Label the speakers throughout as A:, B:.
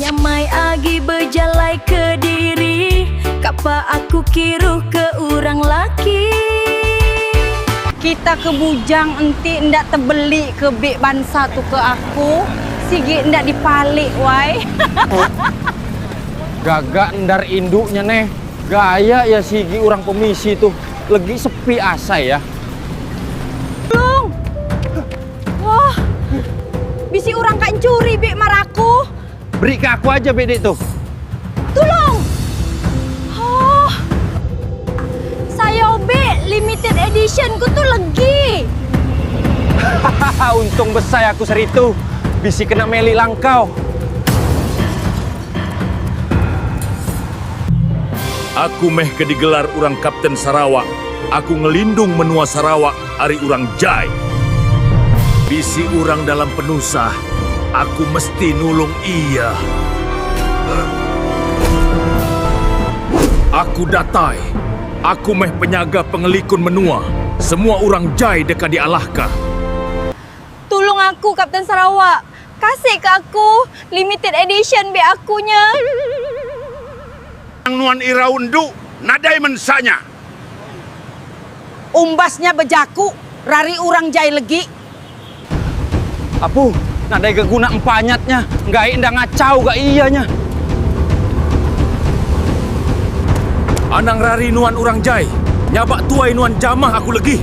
A: Nyamai agi bejalai kediri kapa aku kiruh ke urang laki. Kita ke bujang enti enda tebeli ke beg bansa tu ke aku sigi enda dipalik wai. Gaga endar indu nya neh. Gaya ya sigi urang pemisi tu legi sepi asai ya. Long. Wah. Bisi urang ka encuri bik mar aku. Beri ka aku aja bik dik tu. Tulong. Oh. Sayau bik limited edition ku tu legi. Hahaha untung besai aku seri tu. Bisi kena meli langkau. Aku meh ke digelar orang Kapten Sarawak, aku ngelindung menua Sarawak ari orang jai. Bisi orang dalam penusah, aku mesti nulung iya. Aku datai, aku meh penyaga pengelikun menua, semua orang jai deka dialahka. Tulung aku, Kapten Sarawak! Kasih ke aku limited edition be aku nya. Tang nuan irau endu nadai mensa nya. Umbas nya bejaku rari urang jai legi. Apu, nadai ga guna empanyat nya, enggai enda ngachau ga iya nya. Anang rari nuan urang jai, nyabak tuai nuan jamah aku legi.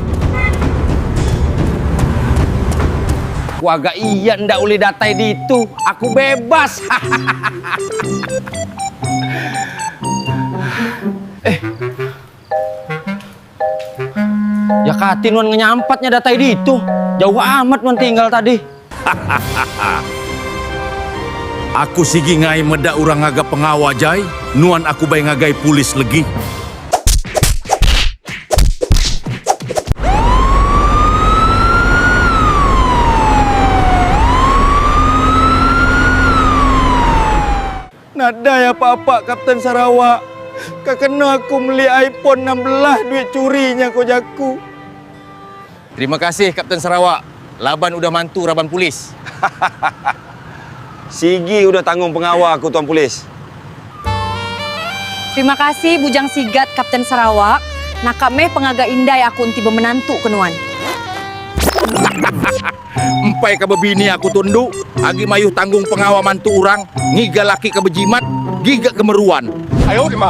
A: Ku aga iya enda ulih datai ditu, aku bebas. Hahahaha. Eh. Ya kati nuan ngenyampat nya datai ditu. Jauh amat nuan tinggal tadi. Hahahaha. Aku sigi ngai meda urang ngaga pengawa jai, nuan aku bai ngagai pulis legi. Nadai apa-apa Kapten Sarawak ke kena aku meli iPhone enam belas duit churi nya ko jaku. Terima kasih Kapten Sarawak laban udah mantu raban polis. Hahahaha. Sigi udah tanggung pengawa aku tuan polis. Terima kasih Bujang Sigat Kapten Sarawak naka meh pengaga indai aku enti bemenantu ke nuan. Hahahaha. Empai ka bebini aku tu endu agi mayuh tanggung pengawa mantu urang ngiga laki ka bejimat giga ke meruan. Hahahaha.